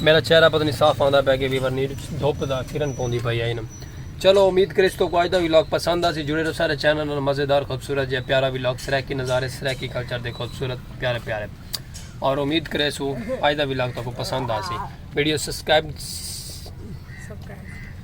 میرا چہرہ پتہ نہیں صاف آندا پیا کہ ویور نیڈ دھوپ دا کرن پوندی پئی ہے انم چلو امید کرے اس تو کو اج دا ویلاگ پسند آسی جڑے رہو سارے چینل نال مزیدار خوبصورت جے پیارا ویلاگ سرائیکی نظارے سرائیکی کلچر دے خوبصورت پیارے پیارے اور امید کرے سو اج دا ویلاگ تو کو پسند آسی ویڈیو سبسکرائب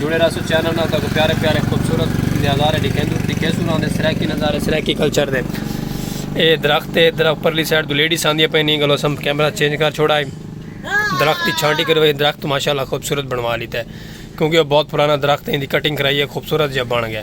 جڑے رہسو چینل نال تاکو پیارے پیارے خوبصورت نظارے ڈکھیندو ڈکھیسو نال دے سرائیکی نظارے سرائیکی کلچر دے اے درخت تے درخت پرلی سائیڈ تو لیڈیز آندی پئی نہیں گلو سم کیمرہ چینج کر چھوڑا ہے درخت دی چھانٹی کرو اے درخت ماشاءاللہ خوبصورت بنوا لیتا ہے کیونکہ وہ بہت پرانا درخت ہے ان دی کٹنگ کرائی ہے خوبصورت جب بن گیا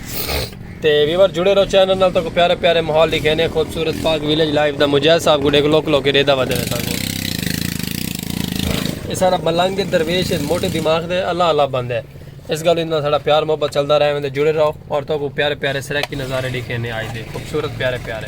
تے ویور جڑے رہو چینل نال تو پیارے پیارے ماحول لکھے نے خوبصورت پاک ویلیج لائف دا مجاہد صاحب کو ڈیکھ لوک لوک ریدا ودے نے سانگو یہ سارا ملنگ دے درویش موٹے دماغ دے اللہ اللہ بندے اس گل انہاں سارا پیار محبت چلدا رہے وندے جڑے رہو اور تو کو پیارے پیارے سرکی نظارے لکھے نے آئی دے خوبصورت پیارے پیارے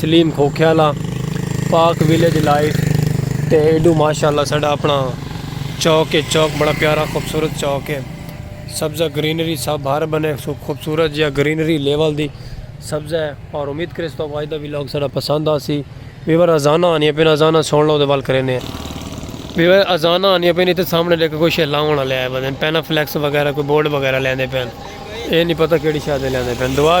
سلیم کھوکھیالہ پاک ویلیج لائف تے ایڈو ماشاءاللہ ساڈا اپنا چوک ہے چوک بڑا پیارا خوبصورت چوک ہے سبزہ گرینری سب ہر بنے خوبصورت جیا گرینری لیول دی سبزہ ہے اور امید کرے اس تو آج دا ویلوگ ساڈا پسند آسی ویور ازانہ آنی اپنے ازانہ سن لو دے وال کرینے ویور ازانہ آنی اپنے تے سامنے لے کے کوئی شے لاؤن والے آئے بدن پینا فلیکس وغیرہ کوئی بورڈ وغیرہ لیندے پین اے نہیں پتہ کیڑی شادے لیندے پین دعا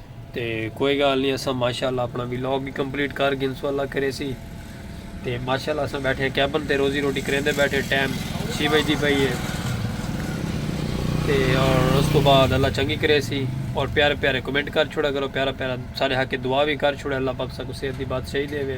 تے کوئی گال نہیں اساں ماشاءاللہ اپنا ویلاگ بھی کمپلیٹ کر گن سو اللہ کرے سی تے ماشاءاللہ اساں بیٹھے ہیں کیبن تے روزی روٹی کریں دے بیٹھے ٹائم چھ بج دی پئی ہے تے اور اس تو بعد اللہ چنگی کرے سی اور پیارے پیارے کمنٹ کر چھوڑا کرو پیارا پیارا سارے حق دعا بھی کر چھوڑا اللہ پاک سا کو صحت دی بات صحیح دے وے